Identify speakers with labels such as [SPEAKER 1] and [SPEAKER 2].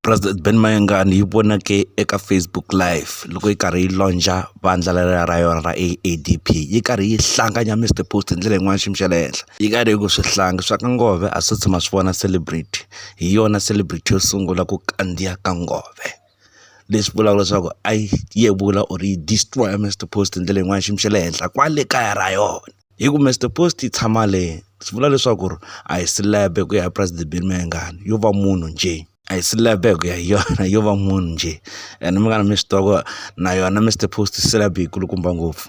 [SPEAKER 1] president ben mayengani yi vonake eka facebook live loko yi karhi yi lonja vandla lela ra yona ra aadp yi karhi yi hlanganya mr post hi ndlela yin'wana xiyimo xa le henhla yi karhi yi ku swihlangi swa ka ngove a swi tshama swi vona celebrity hi yona celebrity yo sungula ku kandziya ka ngove there leswi vulaka leswaku a yi yevula or yi destroy-a Mister Post hi ndlela yin'wani xiyimo xa le henhla kwale kaya ra yona hi ku Mister Post yi tshama le swi vula leswaku ri a hi celeb hi ku ya hi President Billy Mayengani yo va munhu njhe a hi celeb hi ku ya hi yona yo va munhu njhe ene munghana mi swi tiva ku na yona Mister Post celeb yi kulukumba ngopfu.